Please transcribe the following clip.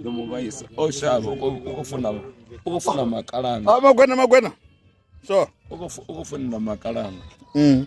ndo mu vhaisa o shavha uko funa uko funa makalana a magwena magwena so uko uko funa makalana mm